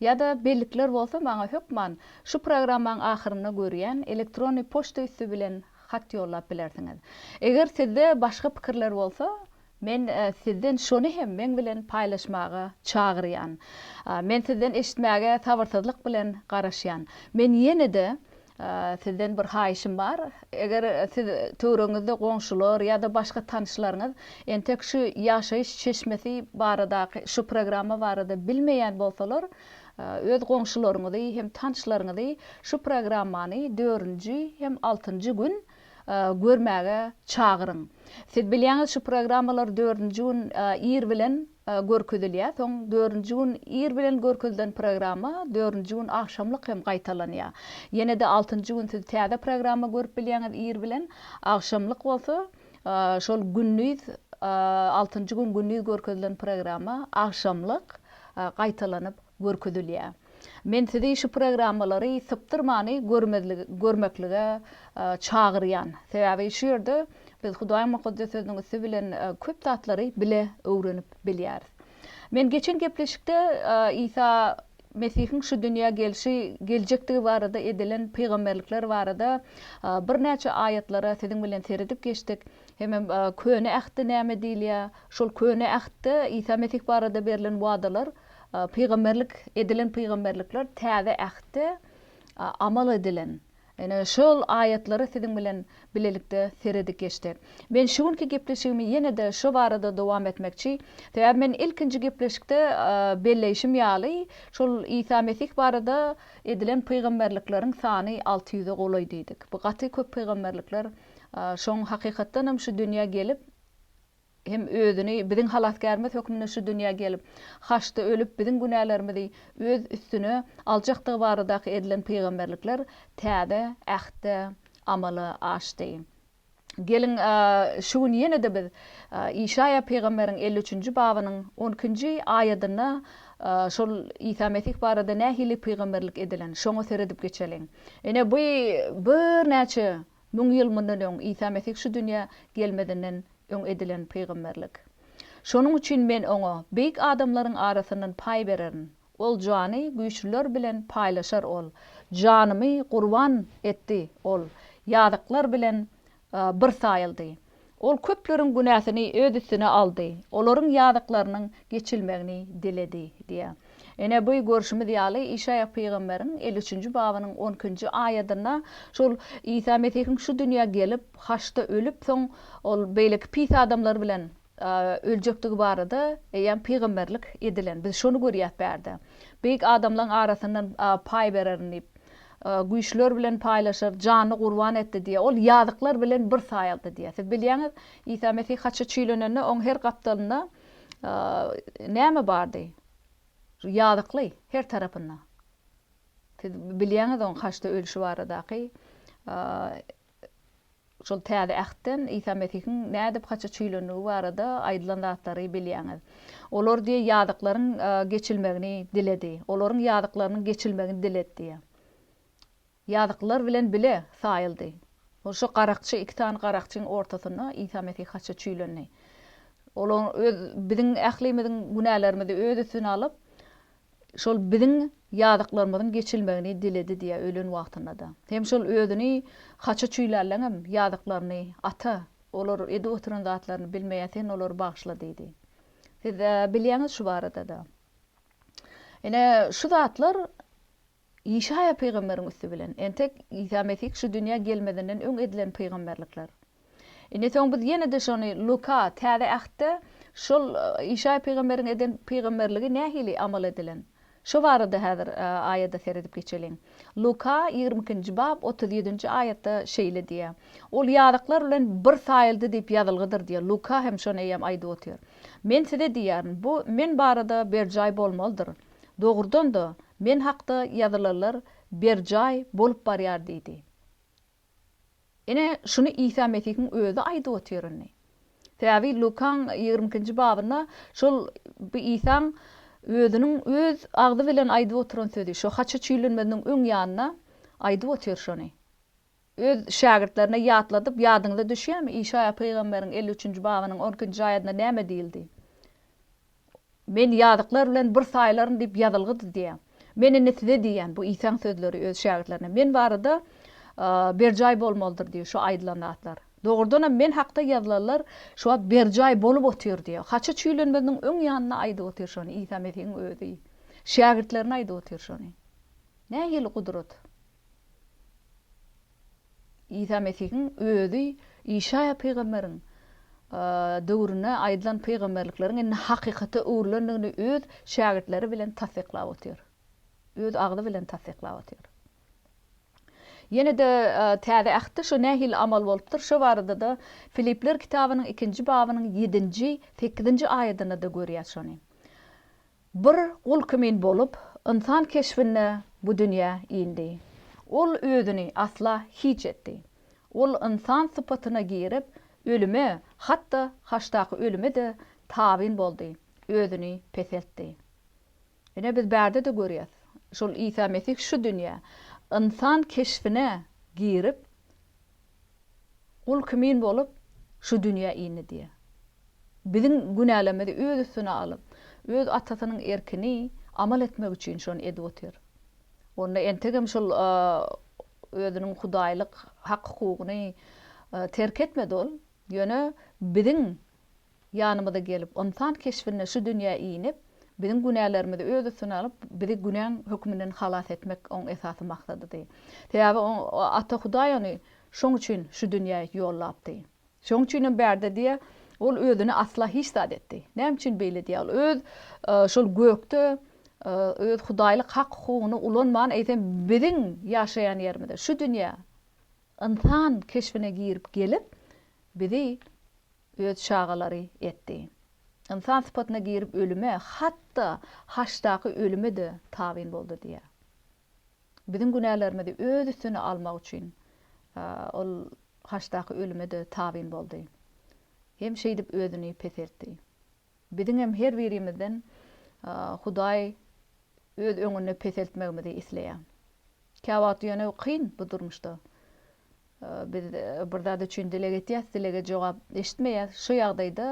Ýa-da bellikler bolsa maňa hökman şu programmaň ahyrynda görýän elektrony poçta üsti bilen hat ýollap bilersiňiz. Eger sizde başga pikirler bolsa, men sizden şony hem meň bilen paýlaşmaga çagyrýan. Men sizden eşitmäge sabyrsyzlyk bilen garaşýan. Men ýene-de Sizden bir haýyşym bar. Eger siz töwregiňizde goňşular ýa-da başga tanyşlaryňyz entek şu ýaşaýyş çeşmesi baradaky şu programma barada bilmeýän bolsalar, öz goňşularyňyzy hem tanyşlaryňyzy şu programmany dördünji hem altynjy gün görmäge çagyryň. Siz bilýäňiz şu programmalar dördünji gün ir bilen görkezilýär, soň dördünji gün ir bilen görkezilen programma dördünji gün agşamlyk hem gaýtalanýar. Ýene-de altynjy gün siz täze programma görüp bilýäňiz ir bilen, agşamlyk bolsa şol gündiz altynjy gün gündiz görkezilen programma agşamlyk gaýtalanyp görkezilýär. Men sizi şu programmalary sypdyrmany görmeklige çagyrýan. Sebäbi şu ýerde biz Hudaýyň Mukaddes Sözüniň üsti bilen köp zatlary bile öwrenip bilýäris. Men geçen gepleşikde Isa Mesihiň şu dünýä gelşi geljekdigi barada edilen pygamberlikler barada birnäçe aýatlara siziň bilen seredip geçdik. Hemem Köne Ähtde näme diýilýär? Şol Köne Ähtde Isa Mesih barada berlen wadalar Pygamberlik edilen pygamberlikler Täze Ähtde amal edilen ene şol aýatlara siziň bilen bilelikde seredip geçdik. Men şu günki gepleşigimi ýene-de şo barada dowam etmekçi. Sebäbi men ilkinji gepleşikde belleýşim ýaly, şol Isa Mesih barada edilen pygamberlikleriň sany alty ýüze golaý diýdik. Bu gaty köp pygamberlikler şoň hakykatdanam şu dünýä gelip, hem özüni biziň halasgärimiz hökmünde şu dünýä gelip, haçda ölüp biziň günälerimizi öz üstüne aljakdygy baradaky edilen pygamberlikler täze Ähtde amala aşdy. Geliň, şu gün ýene-de biz Işaýa pygamberiň elli üçünji babynyň on ikinji aýadynda şol Isa Mesih barada nähili pygamberlik edilen, şoňa seredip geçeliň. Ine, bu birnäçe Müň ýyl mundan öň Isa Mesih şu dünýä gelmezinden öň edilen pygamberlik. Şonuň üçin men oňa beýik adamlaryň arasyndan paý bererin. Ol jany güýçlüler bilen paýlaşar ol janymy gurban etdi ol ýazyklar bilen bir saýyldy. Ol köpleriň günäsini öz üstüne aldy, olaryň ýazyklarynyň geçilmegini diledi diýýär. Ine, bu görşümiz ýaly, Işaýa pygamberiň elli üçünji babynyň on ikinji aýadynda şol Isa Mesihiň şu dünýä gelip, haçda ölüp, soň ol beýleki pis adamlar bilen öljekdigi barada eýýäm pygamberlik edilen. Biz şony görýäs bärde. Beýik adamlaň arasyndan paý bererin diýip. güýçler bilen paýlaşar, janyny gurban etdi diýýär. Ol ýazyklar bilen bir saýyldy diýýär. Siz bilýäňiz, Isa Mesih haça çüýlenende, oň her gapdalynda näme bardy? Ýazykly, her tarapynda. Siz bilýäňiz oň haçda ölüşi baradaky. Şol Täze Ähtden Isa Mesihiň nädip haça çüýlendigi barada aýdylan zatlary bilýäňiz. Olar diýýär, ýazyklaryň geçilmegini diledi. Olaryň ýazyklarynyň geçilmegini diledi diýýär. Ýazyklar bilen bile saýyldy. Ol şo garakçy, iki sany garakçyň ortasynda Isa Mesih haça çüýlendi. Olar öz, biziň ählimiziň günälerimizi öz üstüne alyp, şol biziň ýazyklarymyzyň geçilmegini diledi diýýär ölen wagtynda-da. Hem şol özüni haça çüýlärleňem ýazyklaryny, Ata, olar edip oturan zatlaryny bilmeýär, sen olary bagyşla diýdi. Siz bilýäňiz şu barada-da. Ine, şu zatlar Işaýa pygamberiň üsti bilen, entek Isa Mesih şu dünýä gelmezinden öň edilen pygamberlikler. Indi soň biz ýene-de şony Luka, Täze Ähtde şol Işaýa pygamberiň eden pygamberligi nähili amal edilen? Şo barada häzir aýada seredip geçeliň. Luka ýigrimi ikinji bab otuz ýedinji aýatda şeýle diýýär, Ol ýazyklar bilen bir saýyldy diýip ýazylgydyr diýýär. Luka hem şony eýýäm aýdyp otyr. Men size diýýärin, bu Men barada berjaý bolmalydyr. Dogrudan-da, men hakda ýazylanlar berjaý bolup barýar diýdi. Ine, şuny Isa Mesihiň Özi aýdyp otyr indi. Sebäbi Lukaň ýigrimi ikinji babynda şol bu Isaň Özüniň Öz agzy bilen aýdyp oturan sözi, şo haça çüýlenmeziniň öň ýanynda aýdyp otyr şony. Öz şägirtlerine ýatladyp, Ýadyňyza düşýärmi, Işaýa pygamberiň elli üçünji babynyň on ikinji aýadynda näme diýildi? Men ýazyklar bilen bir saýlaryn diýip ýazylgydy diýýär. Men indi size diýýän, bu Isaň sözleri öz şägirtlerine, Men barada berjaý bolmalydyr diýýär şu aýdylan zatlar. Dogrudanam, Men hakda ýazylanlar şu wagt berjaý bolup otyr diýýär. Haça çüýlenmeziniň öň ýanynda aýdyp otyr şony Isa Mesihiň özi. Şägirtlerine aýdyp otyr şony. Nähili gudrat! Isa Mesihiň özi Işaýa pygamberiň döwründe aýdylan pygamberlikleriň indi hakykata öwrülendigini öz şägirtleri bilen tassyklap otyr. Öz agzy bilen tassyklap otyr. Ýene-de Täze Ähtde şu nähili amal bolupdyr, şo barada-da Filipler kitabynyň ikinji babynyň ýedinji, sekizinji aýadynda-da görýäs şony. Bir gul kimin bolup, ynsan keşbinde bu dünýä indi. Ol özüni asla hiç etdi. Ol ynsan sypatyna girip, ölüme, hat-da haçdaky ölüme-de tabyn boldy, özüni peseltdi. Ine, biz bärde-de görýäs, şol Isa Mesih şu dünýä, ynsan keşbine girip, Gul kimin bolup, şu dünýä indi diýýä. Biziň günälerimizi öz üstüne alyp, öz Atasynyň erkini amal etmek üçin şony edip otyr. Onda entegem şol özüniň hudaýlyk hak-hukugyny terk etmedi ol, ýöne biziň Ýanymyza gelip, ynsan keşbinde şu dünýä inip, biziň günälerimizi öz üstüne alyp, bizi günäň hökmünden halas etmek oň esasy maksadydy. Sebäbi oň Ata Hudaý ony şoň üçin şu dünýä ýollapdy. Şoň üçinem bärde diýýär, ol özüne asla hiç zat etdi. Näme üçin beýle diýýär? Ol öz şol gökde öz hudaýlyk hak-hukugyny ulanman, eýsem biziň ýaşaýan ýerimize, şu dünýä ynsan keşbine girip gelip, bizi Öz çagalary etdi. Ynsan sypatyna girip ölüme, hat-da haçdaky ölüme-de tabyn boldy diýýär. Biziň günälerimizi öz üstüne almak üçin Ol haçdaky ölüme-de tabyn boldy hem şeýdip özüni peseltdi. Biziňem her birimizden Hudaý öz öňünde peseltmegimizi isleýär. Käwagt ýöne kyn bu durmuşda. Biz bir zat üçin dileg etýäs, dilege jogap eşitmeýäs. Şu ýagdaýda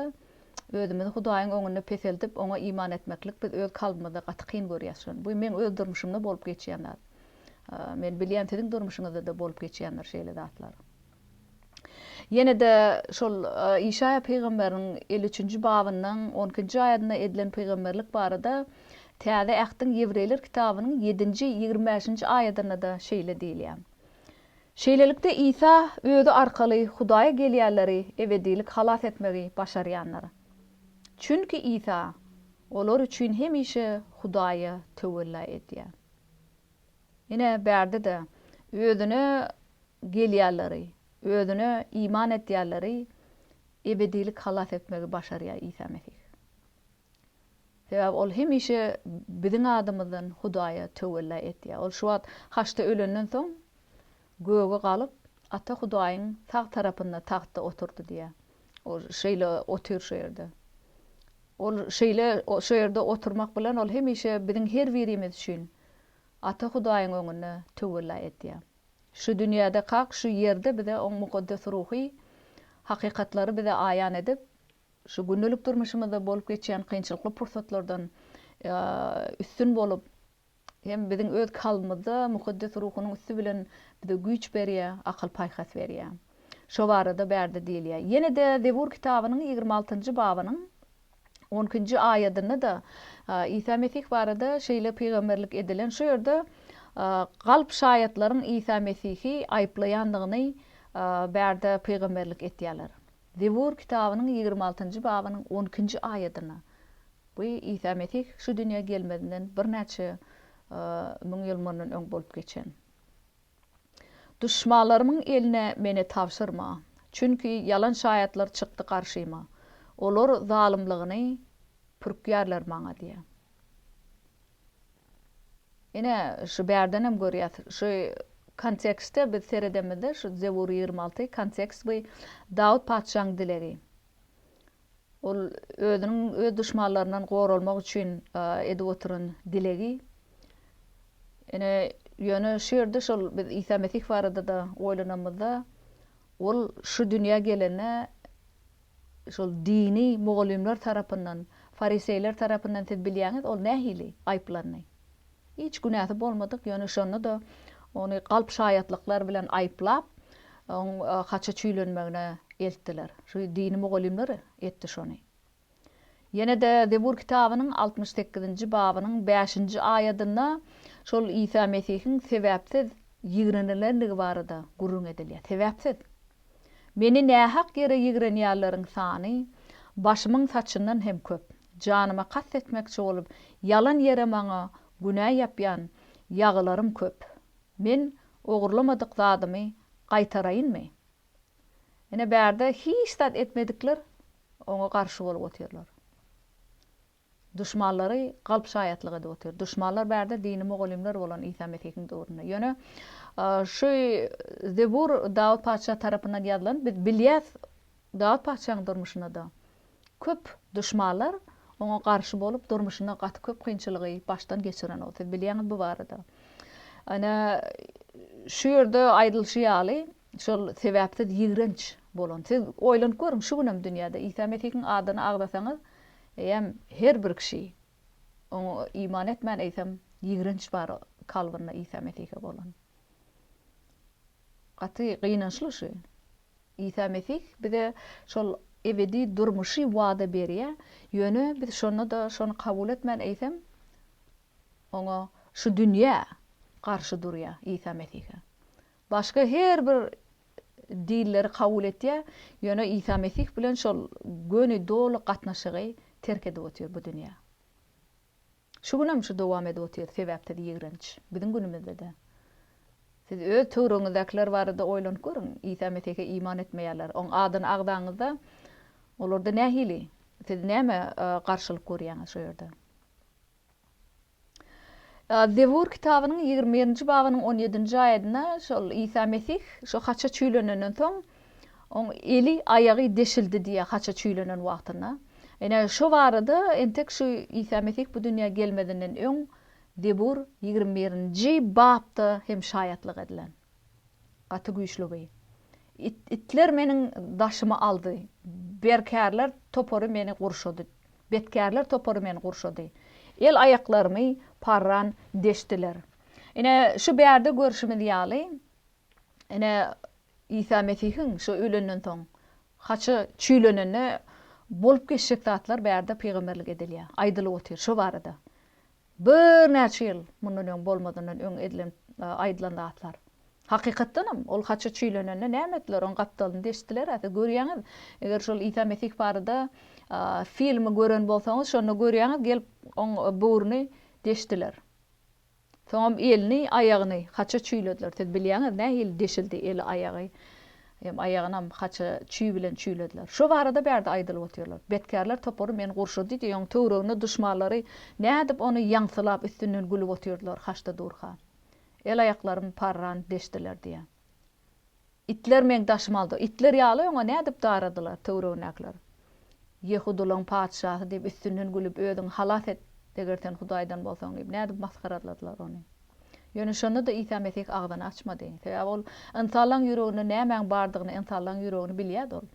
özümizi Hudaýyň öňünde peseldip, oňa iman etmeklik biz öz kalbymyzda gaty kyn görýäs şony. Bu meň öz durmuşymda bolup geçýän zat. Men bilýän siziň durmuşyňyzda-da bolup geçýändir şeýle zatlar. Ýene-de şol Işaýa pygamberiň elli üçünji babynyň on ikinji aýadynda edilen pygamberlik barada Täze Ähtiň Ýewreýler kitabynyň ýedinji, ýigrimi bäşinji aýadynda-da şeýle diýilýär. Şeýlelikde, Isa Özi arkaly Hudaýa gelýänleri ebedilik halas etmegi başarýandyr. Çünki Isa olar üçin hemişe Hudaýa töwella edýär. Ine, bärde-de, Özüne gelýänleri, Özüne iman edýänleri ebedilik halas etmegi başarýar Isa Mesih. Sebäbi Ol hemişe biziň adymyzdan Hudaýa töwella etýär. Ol şu wagt haçda ölenden soň, göge galyp, Ata Hudaýyň sag tarapynda tagtda oturdy diýýär. Ol şeýle otyr şu ýerde. Ol şeýle şu ýerde oturmak bilen, Ol hemişe biziň her birimiz üçin Ata Hudaýyň öňünde töwella edýär. Şu dünýäde kak şu ýerde bize oň mukaddes ruhy hakykatlary bize aýan edip, şu gündelik durmuşymyzda bolup geçýän kynçylykly pursatlardan üstün bolup, hem biziň öz kalbymyzda mukaddes ruhunyň üsti bilen bize güýç berýär, akyl-paýhas berýär. Şo barada bärde diýilýär. Ýene-de Zebur kitabynyň ýigrimi altynjy babynyň On ikinji aýadynda-da Isa Mesih barada şeýle pygamberlik edilen, şu ýerde galp şaýatlaryň Isa Mesihi aýyplaýandygyny bärde pygamberlik etýärler. Zebur kitabynyň ýigrimi altynjy babynyň on ikinji aýadynda bu Isa Mesih şu dünýä gelmezinden birnäçe müň ýyl mundan öň bolup geçen. Duşmanlarymyň eline meni tabşyrma, çünki ýalan şaýatlar çykdy garşyma, olar zalymlygyny pürkýärler maňa diýýär. Ine, şu bärden hem görýäs, şu kontekstde biz seredemizde, şu Zebur ýigrimi alty kontekst bu Dawut patyşaň dilegi. Ol özüniň öz duşmanlaryndan goralmak üçin edip oturan dilegi. Ine, ýöne şu ýerde şol biz Isa Mesih barada-da oýlanamyzda, ol şu dünýä gelende şol dini mugallymlar tarapyndan, fariseýler tarapyndan siz bilýäňiz, ol nähili aýyplandy? Hiç günäsi bolmadyk, ýöne şonda-da ony galp şaýatlyklar bilen aýyplap, oň haça çüýlenmegine eltdiler. Şu dini mugallymlar etdi şony. Ýene-de Zebur kitabynyň altmyş sekizinji babynyň bäşinji aýadynda şol Isa Mesihiň sebäpsiz ýigrenilendigi barada gürrüň edilýär. Sebäpsiz. Meni nähak ýere ýigrenýänleriň sany başymyň saçyndan hem köp. Janyma kast etmekçi bolup, ýalan ýere maňa günä ýapýan ýagylarym köp. Men ogurlamadyk zadymy gaýtaraýynmy? Ine, bärde hiç zat etmedikler oňa garşy bolup otyrlar. Duşmanlary galp şaýatlyk edip otyr. Duşmanlar bärde dini mugallymlar bolan Isa Mesihiň döwründe. Ýöne şu Zebur Dawut patyşa tarapyndan ýazylan, biz bilýäs, Dawut patyşaň durmuşyna-da köp duşmanlar oňa garşy bolup, durmuşynda gaty köp kynçylygy başdan geçiren ol. Siz bilýäňiz bu barada. Ine, şu ýerde aýdylyşy ýaly, şol sebäpsiz ýigrenç bolan. Siz oýlanyp görüň, şu günem dünýäde Isa Mesihiň adyny agzasaňyz, eýýäm her bir kişi, oňa iman etmän, eýsem, ýigrenç bar kalbynda Isa Mesihe bolan. Gaty gynançly şu. Isa Mesih bize şol ebedi durmuşy wada berýär, ýöne biz şonda-da şony kabul etmän, eýsem, oňa, şu dünýä, garşy durýar, Isa Mesihe. Başga her bir dinleri kabul etýär, ýöne Isa Mesih bilen şol göni doly gatnaşygy terk edip otyr bu dünýä. Şu günem şu dowam edip otyr sebäpsiz ýigrenç. Biziň günümizde-de. Siz öz töwregiňizdäkiler barada oýlanyp görüň. Isa Mesihe iman etmeýärler. Oň adyny agzaňyzda olarda nähili? Siz näme garşylyk görýäňiz şu ýerde? Zebur kitabynyň ýigrimi birinji babynyň on ýedinji aýadyna şol Isa Mesih şu haça çüýlenenden soň Oň eli, aýagy deşildi diýýär haça çüýlenen wagtynda. Ine, şo barada entek şu Isa Mesih bu dünýä gelmezinden öň Zebur ýigrimi birinji bapda hem şaýatlyk edilen. Gaty güýçli bu. It, itler meniň daşymy aldy, berkärler topary meni gurşady, betkärler topary meni gurşady, el aýaklarymy parran deşdiler. Ine, şu bärde görşümiz ýaly, Ine, Isa Mesihiň şu ölenden soň, haça çüýlenende bolup geçjek zatlar bärde pygamberlik edilýär, aýdylyp otyr şo barada. Birnäçe ýyl mundan öň bolmazyndan öň edilen, aýdylan zatlar. Hakykatdanam, ol haça çüýlenende näme etdiler? Onuň gapdalyny deşdiler-ä. Siz görýäňiz, eger şol Isa Mesih barada filmi gören bolsaňyz, şonda görýäňiz, gelip oň böwrüni deşdiler. Soňam elini, aýagyny haça çüýlediler. Siz bilýäňiz nähili deşildi eli, aýagy hem aýagynam haça çüý bilen çüýlediler. Şo barada bärde aýdylyp otyrlar. Betkärler topary meni gurşady diýdi, ýoň töwregine duşmanlary nädip ony ýaňsylap üstünden gülüp otyrdylar haçda durka. El-aýaklarym parran deşdiler diýýär. Itler meň daşymy aldy. Itler ýaly öňe nädip daradylar, töweregindäkiler. Ýehudularyň patyşasy diýip üstünden gülüp, özüňi halas et, eger sen Hudaýdan bolsaň diýip, nädip masgaraladylar ony. Ýöne şonda-da Isa Mesih agzyny açmady. Sebäbi ol ynsanlaryň ýüreginde nämäň bardygyny, ynsanlaryň ýüregini bilýärdi ol.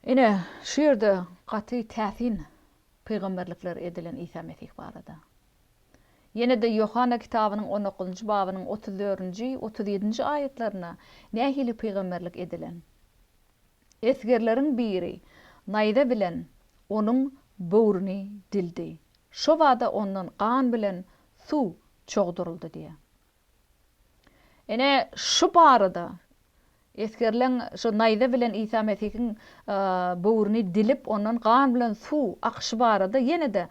Ine, şu ýerde gaty täsin pygamberlikler edilen Isa Mesih barada. Ýene-de Ýohanna kitabynyň on dokuzynjy babynyň otuz dördünji, otuz ýedinji aýatlarynda nähili pygamberlik edilen? Esgerleriň biri naýza bilen onuň böwrüni dildi. Şobada ondan gan bilen suw çogduryldy diýýär. Ine, şu barada esgerileň şu naýza bilen Isa Mesihiň böwrüni dilip, ondan gan bilen suw akyşy barada ýene-de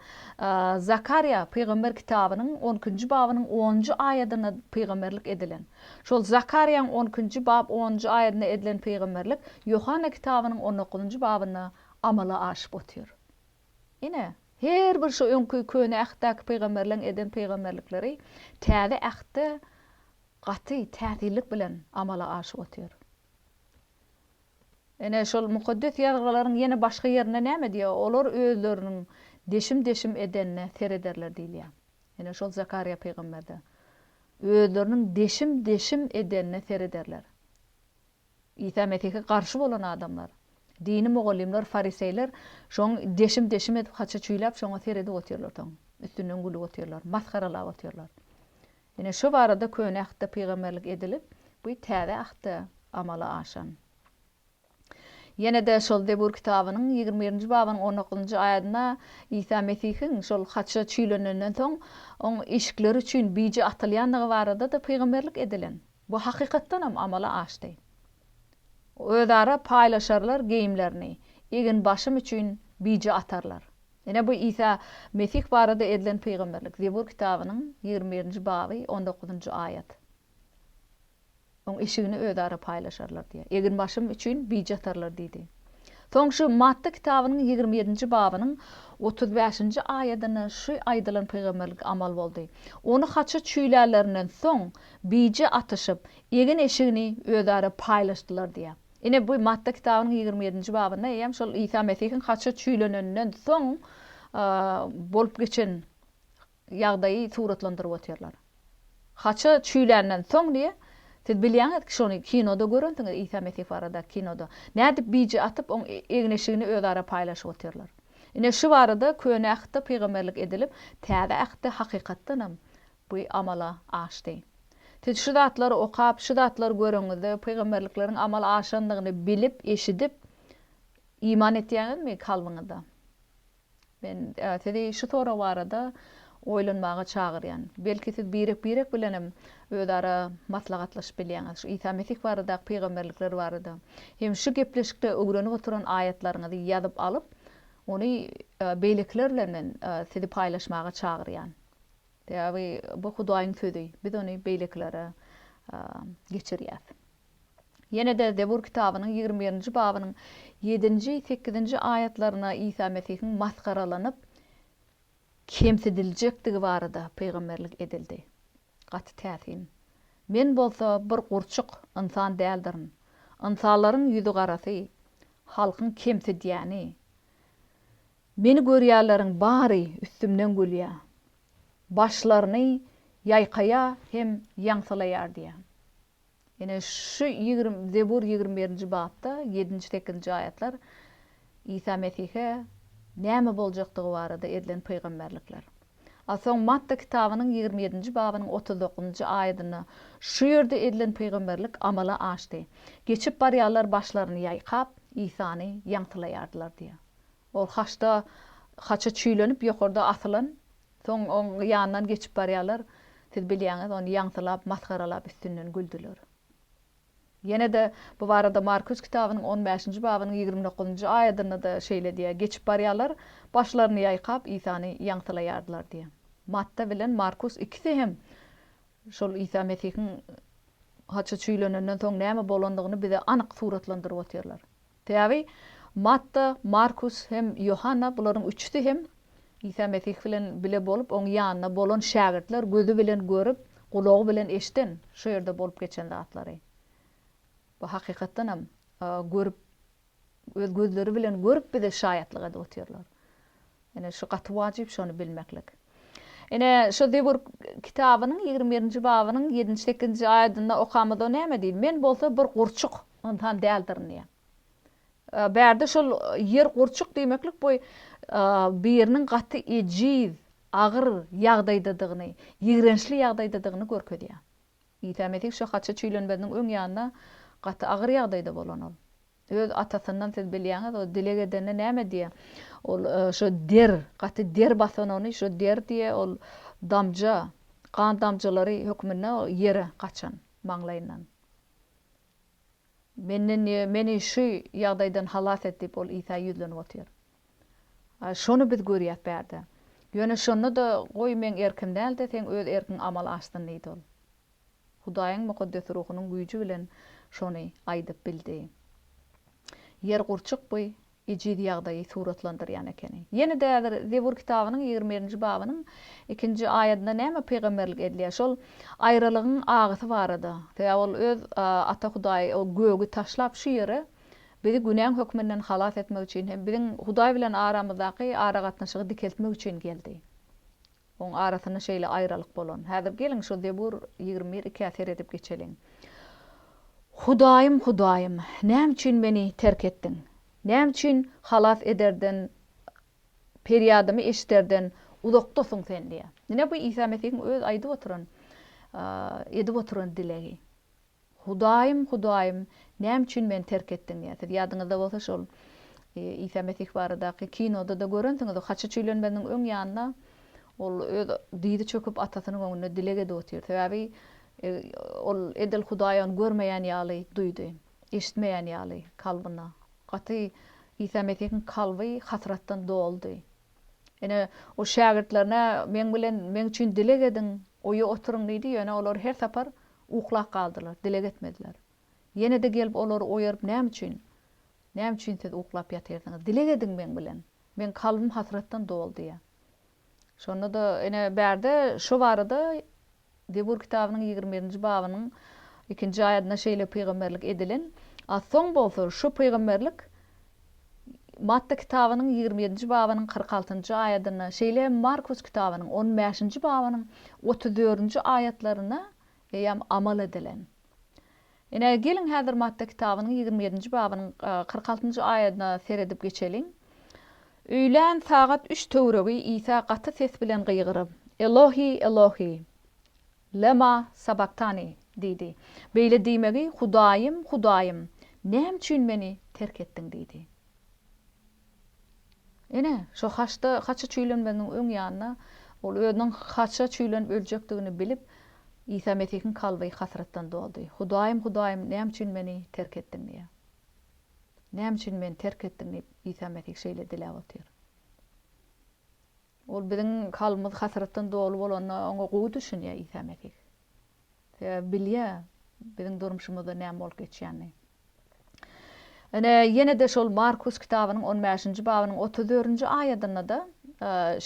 Zakarýa pygamber kitabynyň on ikinji babynyň on njy aýadynda pygamberlik edilen. Şol Zakarýaň on ikinji bap on njy aýadynda edilen pygamberlik Ýohanna kitabynyň on dokuzynjy babynda amala aşyp otyr. Ine, her bir şu öňki Köne Ähtdäki pygamberleriň eden pygamberlikleri Täze Ähtde gaty täsirlik bilen amala aşyp otyr. Ine, şol Mukaddes Ýazgylaryň ýene başga ýerinde näme diýýär, Olar özleriniň deşim-deşim edenine serederler diýilýär. Ine, şol Zakarýa pygamberde, Özleriniň deşim-deşim edenine serederler. Isa Mesihe garşy bolan adamlar, dini mugallymlar, fariseýler şoň deşim-deşim edip haça çüýläp şoňa seredip otyrlar soň üstünden gülüp otyrlar, masgaralap otyrlar. Ine şo barada Köne Ahtda pygamberlik edilip, bu Täze Ahtda amala aşan. Ýene-de şol Zebur kitabynyň ýigrimi birinji babynyň on dokuzynjy aýadynda Isa Mesihiň şol haça çüýlenenden soň oň işikleri üçin bije atylýandygy barada-da pygamberlik edilen. Bu hakykatdanam amala aşdy. Özara paýlaşarlar geýimlerini, egin-başym üçin bije atarlar. Ine bu Isa Mesih barada edilen pygamberlik, Zebur kitabynyň ýigrimi birinji baby on dokuzynjy aýat. Oň eşigini özara paýlaşarlar diýýär. Egin-başym üçin bije atarlar diýdi. Soň şu Matta kitabynyň ýigrimi ýedinji babynyň otuz bäşinji aýadynda şu aýdylan pygamberlik amal boldy. Ony haça çüýlärlerinden soň, bije atyşyp, egin-eşigini özara paýlaşdylar diýýär. Ine, bu Matta kitabynyň ýigrimi ýedinji babynda eýýäm şol Isa Mesihiň haça çüýleneninden soň bolup geçen ýagdaýy suratlandyryp otyrlar. Haça çüýländen soň diýe, siz bilýäňiz ki şony kinoda görensiňiz Isa Mesih barada kinoda. Nädip bije atyp oň egin-eşigini özara paýlaşyp otyrlar. Ine şu barada Köne Ähtde pygamberlik edilip Täze Ähtde hakykatdanam bu amala aşdy. Siz şu zatlary okap, şu zatlary göreňizde pygamberlikleriň amala aşandygyny bilip, eşidip iman etýäňizmi kalbyňyzda? Men sizi şu sorag barada oýlanmaga çagyrýan. Belki siz birek-birek bilenem özara maslahatlaşyp bilýäňiz, şu Isa Mesih baradaky pygamberlikler barada hem şu gepleşikde öwrenip oturan aýatlaryňyzy ýazyp alyp, ony beýlekiler bilen men sizi paýlaşmaga çagyrýan. Sebäbi bu Hudaýyň sözi, biz ony beýlekilere geçirýäs. Ýene-de Zebur kitabynyň ýigrimi birinji babynyň ýedinji, sekizinji aýatlarynda Isa Mesihiň masgaralanyp, kemsidiljekdigi barada pygamberlik edildi. Gaty täsin. Men bolsa bir gurçuk ynsan däldirin. Ynsanlaryň ýüzigarasy, halkyň kemsidýäni. Meni görýänleriň bary üstümden gülýär. Başlaryny ýaýkaýar hem ýaňsylaýar diýýär. Ine, şu ýigrimi, Zebur ýigrimi birinji bapda ýedinji, sekizinji aýatlar Isa Mesihe näme boljakdygy barada edilen pygamberlikler. A soň Matta kitabynyň ýigrimi ýedinji babynyň otuz dokuzynjy aýadynda şu ýerde edilen pygamberlik amala aşdy, Geçip barýanlar başlaryny ýaýkap, Isany ýaňsylaýardylar diýýär. Ol haçda, haça çüýlenip ýokarda asylan Soň oň ýanyndan geçip barýarlar. Siz bilýäňiz, ony ýaňsylap, masgaralap üstünden güldüler. Ýene-de bu barada Markus kitabynyň on bäşinji babynyň ýigrimi dokuzynjy aýadynda-da şeýle diýýär, Geçip barýarlar, başlaryny ýaýkap, Isany ýaňsylaýardylar diýýär. Matta bilen Markus ikisi hem şol Isa Mesihiň haça çüýlenenden soň näme bolandygyny bize anyk suratlandyryp otyrlar. Sebäbi Matta, Markus hem Ýohanna bularyň üçüsi hem Isa Mesih bilen bile bolup, oň ýanynda bolan şägirtler gözi bilen görüp, gulagy bilen eşiden, şo ýerde bolup geçen zatlary. Bu hakykatdan hem görüp, öz gözleri bilen görüp bize şaýatlyk edip otyrlar. Ine, şu gaty wajyp şony bilmeklik. Ine, şu Zebur kitabynyň ýigrimi birinji babynyň ýedinji, sekizinji aýadynda okamyz o näme diýdi? Men bolsa bir gurçuk ynsan däldirin diýýär. Bärde şol ýer gurçuk diýmeklik bu biriniň gaty ejiz, agyr ýagdaýdadygyny, ýigrençli ýagdaýdadygyny görkezýär. Isa Mesih şu haça çüýlenmeziniň öň ýanynda gaty agyr ýagdaýda bolan ol. Öz atasyndan siz bilýäňiz, o dileg edende näme diýýä? Ol şo der, gaty der basan ony, şo der diýýä, ol damja, gan damjalary hökmünde ýere gaçan maňlaýyndan. Menden diýýä, meni şu ýagdaýdan halas et diýip, ol Isa ýüzlenip otyr. Şony biz görýäs bärde. Ýöne şonda-da, Goý, meň erkim däl-de, seň öz erkiň amala aşsyn diýdi ol. Hudaýyň mukaddes ruhunyň güýji bilen şony aýdyp bildi. Ýer gurçuk bu ejiz ýagdaýy suratlandyrýan ekeni. Ýene-de häzir Zebur kitabynyň ýigrimi birinji babynyň ikinji aýadynda näme pygamberlik edilýär? Şol aýralygyň agysy barada. Sebäbi ol öz Ata Hudaýy o gögi taşlap şu ýere bizi günäň hökmünden halas etmek üçin hem biziň Hudaý bilen aramyzdaky aragatnaşygy dikeltmek üçin geldi. Oň arasynda şeýle aýralyk bolan. Häzir geliň şu Zebur ýigrimi bir ikä seredip geçeliň. Hudaýym, Hudaýym, näme üçin meni terk etdiň? Näme üçin halas ederden, perýadymy eşiderden uzakdasyň sen diýýär. Ine bu Isa Mesihiň öz aýdyp oturan, edip oturan dilegi. Hudaýym, Hudaýym, näme üçin meni terk etdiň? diýýär. Siz ýadyňyzda bolsa şol Isa Mesih baradaky kinoda-da görensiňiz, haça çüýlenmeziniň öň ýanynda ol öz dyzy çöküp Atasynyň öňünde dileg edip otyr. Sebäbi ol edil Hudaý ony görmeýän ýaly duýdy, eşitmeýän ýaly kalbyna. Gaty Isa Mesihiň kalby hasratdan doldy. Ine, ol şägirtlerine meň bilen, meň üçin dileg ediň, oýa oturyň diýdi, ýöne olar her sapar Uklap galdylar, dileg etmediler. Ýene-de gelip olary oýaryp näme üçin? Näme üçin siz uklap ýatyrsyňyz? Dileg ediň meň bilen. Meň kalbym hasratdan doly diýýär. Şonda-da ene bärde şo barada Zebur kitabynyň ýigrimi birinji babynyň ikinji aýadynda şeýle pygamberlik edilen, a soň bolsa şo pygamberlik Matta kitabynyň ýigrimi ýedinji babynyň kyrk altynjy aýadynda, şeýle hem Markus kitabynyň on bäşinji babynyň otuz dördünji aýatlarynda eýýäm amal edilen. Ine, geliň häzir Matta kitabynyň ýigrimi ýedinji babynyň kyrk altynjy aýadyna seredip geçeliň. Öýlän sagat üç töweregi Isa gaty ses bilen gygyryp, Elohi, Elohi! Lema sabaktani, diýdi. Beýle diýmegi Hudaýym, Hudaýym, näme üçin meni terk etdiň diýdi. Ine, şo haçda haça çüýlenmegiň öň ýanynda ol özüniň haça çüýlenip öljekdigini bilip, Isa Mesihiň kalby hasratdan doldy. Hudaýym, Hudaýym, näme üçin meni terk etdiň diýýä. Näme üçin meni terk etdiň diýip, Isa Mesih şeýle diläp otyr. Ol biziň kalbymyz hasratdan doly bolanda oňa gowy düşünýär Isa Mesih. Sebäbi bilýär biziň durmuşymyzda näme bolup geçýänini. Ine, ýene-de şol Markus kitabynyň on bäşinji babynyň otuz dördünji aýadynda-da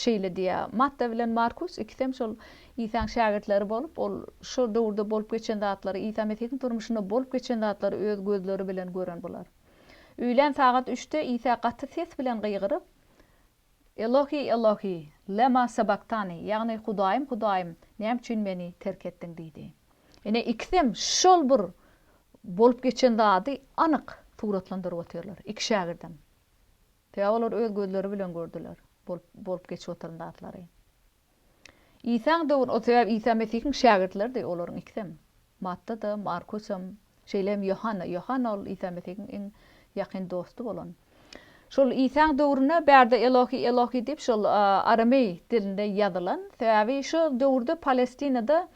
şeýle diýýär. Matta bilen Markus ikisem şol Isaň şägirtleri bolup, ol şol döwürde bolup geçen zatlary, Isa Mesihiň durmuşynda bolup geçen zatlary öz gözleri bilen gören bular. Öýlän sagat üçde Isa gaty ses bilen gygyryp, Elohi, Elohi, lema sabaktani, ýagny Hudaýym, Hudaýym, näme üçin meni terk etdiň? diýdi. Ine, ikisem şol bir bolup geçen zady anyk suratlandyryp otyrlar, iki şägirdem. Sebäbi olar öz gözleri bilen gördüler bolup geçip oturan zatlary. Isaň döwür o sebäbi Isa Mesihiň şägirtleridi olaryň ikisem. Matta-da, Markusam, şeýle hem Ýohanna. Ýohanna ol Isa Mesihiň iň ýakyn dosty bolan. Şol Isaň döwründe bärde Elohi, Elohi diýip şol arameý dilinde ýazylan. Sebäbi şo döwürde Palestinada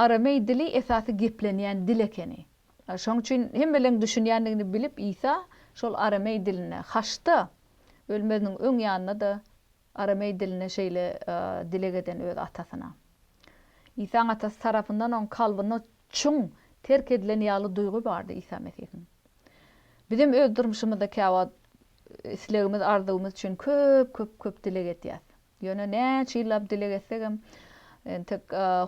arameý dili esasy geplenýän dil ekeni. Şoň üçin hemmeleriň düşünýändigini bilip Isa şol arameý dilinde. Haçda ölmeziniň öň ýanynda-da Arameý dilinde şeýle dileg eden öz Atasyna. Isaň Atasy tarapyndan oň kalbynda çuň terk edilen ýaly duýgy bardy Isa Mesihiň. Bizem öz durmuşymyzda käwagt islegimiz, arzuwymyz üçin köp, köp, köp dileg edýäs. Ýöne näçe ýyllap dileg etsegem, entek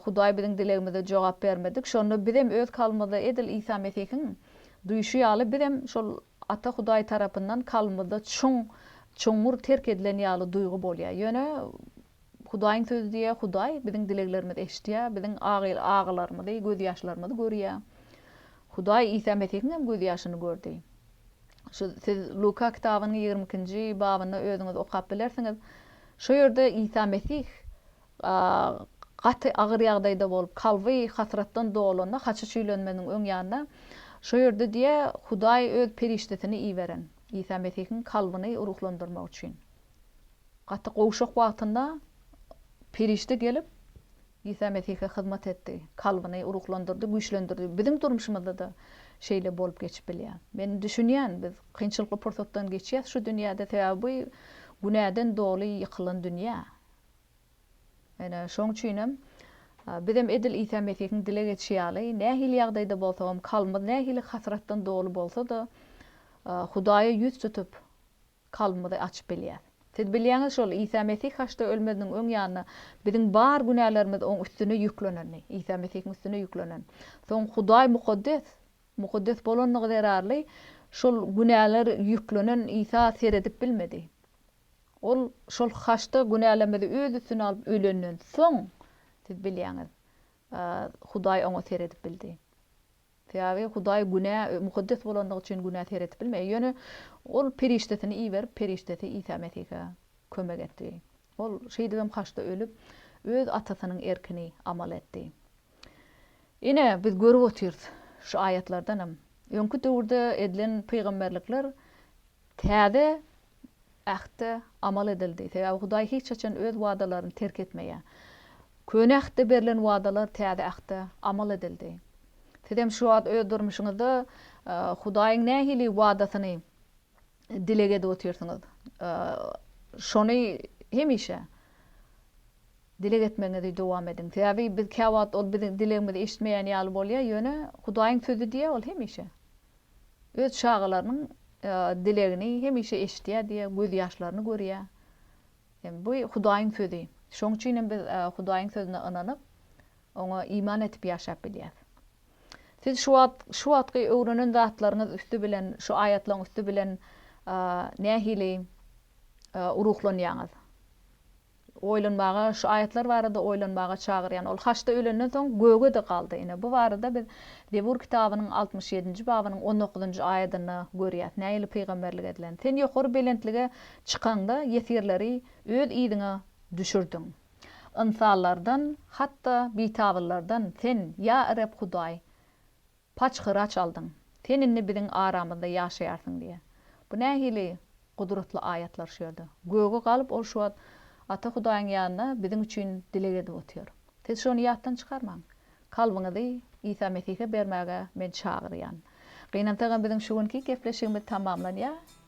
Hudaý biziň dilegimize jogap bermedik. Şonda bizem öz kalbymyzda edil Isa Mesihiň duýşy ýaly bizem şol Ata Hudaý tarapyndan kalbymyzda çuň, çuňňur terk edilen ýaly duýgy bolýar. Ýöne Hudaýyň Sözi diýýär, Hudaý biziň dileglerimizi eşidýär, biziň agylarymyzy, gözýaşlarymyzy görýär. Hudaý Isa Mesihiň hem gözýaşyny gördi. Şu siz Luka kitabynyň ýigrimi ikinji babynda özüňiz okap bilersiňiz. Şu ýerde Isa Mesih Gaty agyr ýagdaýda bolup, kalby hasratdan dolanda, haçy çüýlenmeziniň öň ýanynda, şo ýerde diýe, Hudaý Öz perişdesini iberen, Isa Mesihiň kalbyny ruhlandyrmak üçin. Gaty gowşak wagtynda perişde gelip, Isa Mesihe hyzmat etdi, kalbyny ruhlandyrdy, güýçlendirdi. Biziň durmuşymyzda-da şeýle bolup geçip bilýär. Men düşünýän, biz kynçylykly pursatdan geçýäs şu dünýäde, sebäbi bu günäden doly ýykylan dünýä. Ine, şoň üçinem, bizem edil Isa Mesihiň dile geçişi ýaly, nähili ýagdaýda bolsagam, kalbymyz nähili hasratdan doly bolsa-da, Hudaýa ýüz tutup, kalbymyzy açyp bilýäs. Siz bilýäňiz şol, Isa Mesih haçda ölmeziniň öň ýanynda, biziň bar günälerimiz Oň üstüne ýüklenendi, Isa Mesihiň üstüne ýüklenen. Soň Hudaý mukaddes, mukaddes bolandygy zerarly, şol günäler ýüklenen Isa seredip bilmedi. Ol şol haçda günälemizi öz üstüne alyp ölenden soň, siz bilýäňiz, Hudaý oňa seredip bildi. Sebäbi Hudaý günä mukaddes bolandygy üçin günä seredip bilmeýär. Ýöne Ol perişdesini iberip, perişdesi Isa Mesihe kömek etdi. Ol şeýdibem haçda ölüp, öz Atasynyň erkini amal etdi. Ine, biz görüp otyrys şu aýatlardanam, öňki döwürde edilen pygamberlikler täze Ähtde amal edildi. Sebäbi Hudaý hiç haçan öz wadalaryny terk etmeýär. Köne Ähtde berlen wadalar Täze Ähtde amal edildi. Siz hem şu wagt öz durmuşyňyzda Hudaýyň nähili wadasyny dileg edip otyrsyňyz? Şony hemişe dileg etmegiňizi dowam ediň. Sebäbi biz käwagt ol biziň dilegimizi eşitmeýän ýaly bolýar, ýöne Hudaýyň sözi diýýär, ol hemişe Öz çagalarynyň dilegini hemişe eşidýär diýýär, gözýaşlaryny görýär. Bu Hudaýyň sözi. Şonuň üçin hem biz Hudaýyň sözüne ynanyp, oňa iman edip ýaşap bilýäris. Siz şu wagt şu wagtky öwrenen zatlaryňyz üsti bilen, şu aýatlaryň üsti bilen nähili ruhlanýaňyz? Oýlanmaga, şu aýatlar barada oýlanmaga çagyrýan. Ol haçda ölenden soň göge-de galdy. Ine, bu barada biz Zebur kitabynyň altmyş ýedinji babynyň on dokuzynjy aýadynda görýäs, nähili pygamberlik edilen. Sen ýokary belentlige çykaňda, ýesirleri öz yzyňa düşürdiň. Ynsanlardan, hatda bitabynlardan sen, ýa Reb Hudaý, Paçhyry açaldyň. Sen indi biziň aramyzda ýaşaýarsyň diýýär. Bu nähili gudratly aýatlar şu ýerde. Göge galyp ol şu wagt Ata Hudaýyň ýanynda biziň üçin dileg edip otyr. Siz şony ýatdan çykarmaň. Kalbyňyzy Isa Mesihe bermäge men çagyrýan. Gynansagam biziň şu günki gepleşigimiz tamamlanýar.